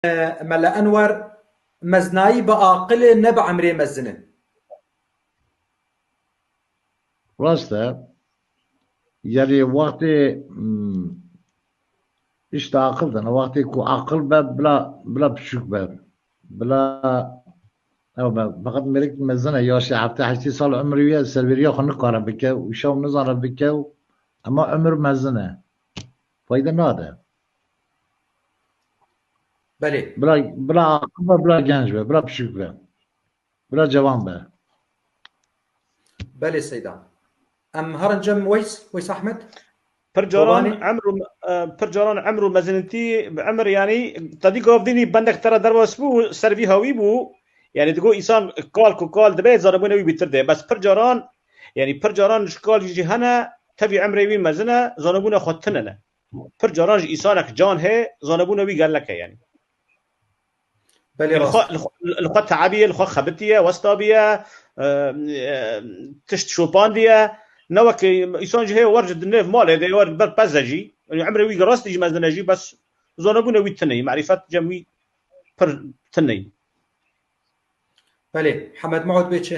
Mele Enwer, Meznayî bi aqil e ne bi emrê mezin e. Rast e. Yanî wextê îş di aqil de ne. Wextê ku aqil be bila bila piçûk be. Bila ew be. Feqet mêrik mezin e ya şê heftê heştê sal umrê wî ye servêriya xwe nikare bike û şew nizane bike û hema umr mezin e. Fayde nade. Belê. Bila bila aqil be, bila genc be, bila piçûk be. Bila cewan be. Belê Seyda. Em herin cem Weys, Weys Ahmed. Pir caran emr pir caran emr û mezinitî bi emr yanî tedî gav dînî bendek te re derwas bû û ser vî hawî bû. Yani digo insan kal ku kal dibe zanebûnê wî bîtir de. Bes pir caran yani pir caran ji kal jî hene tevî emrê wî mezin e, zanebûna xwe tune ne. Pir caran ji îsanek can hê, zanebûna wî gelek e yanî. Belê rast. Li xwe li xwe tebiye, li xwe xebitiye, westabiye, tişt şopandiye. Ne wek îsan jî heye wer ji dinêv malê dê wer ber peze jî. Emrê wî rastî jî mezin e jî bes zanebûna wî tineyî, merîfet cem wî pir tineyî. Belê, Hemed Maud bê çi?